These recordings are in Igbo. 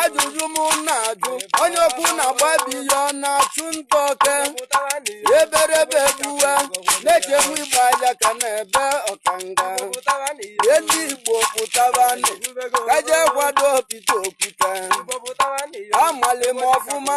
ajụjụ m na-ajụ onye ọkụ na-agba be ya ọ na-achụ nta oke eberebe gbuwe na-echegbu igba ya ka na-ebe ọkanga ihe ndị igbo pụtabanụ ka e je kwadoo pita okwute amalị m ọfụma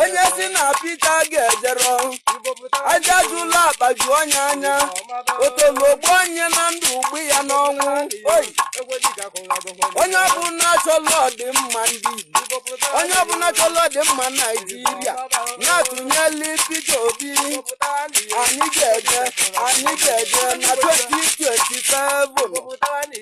onye sị na pita ga-ejere aja jụla akpa ju onye anya otolo gbuo onye na ndụ o gbuo ya n'ọnwụ o onye ọbụla chọrọ ọdịmma ndị Igbo onye ọbụla chọrọ ọdịmma naijiria na-atụnyeli Peter Obi anyị ga-eje anyị ga-eje na 2027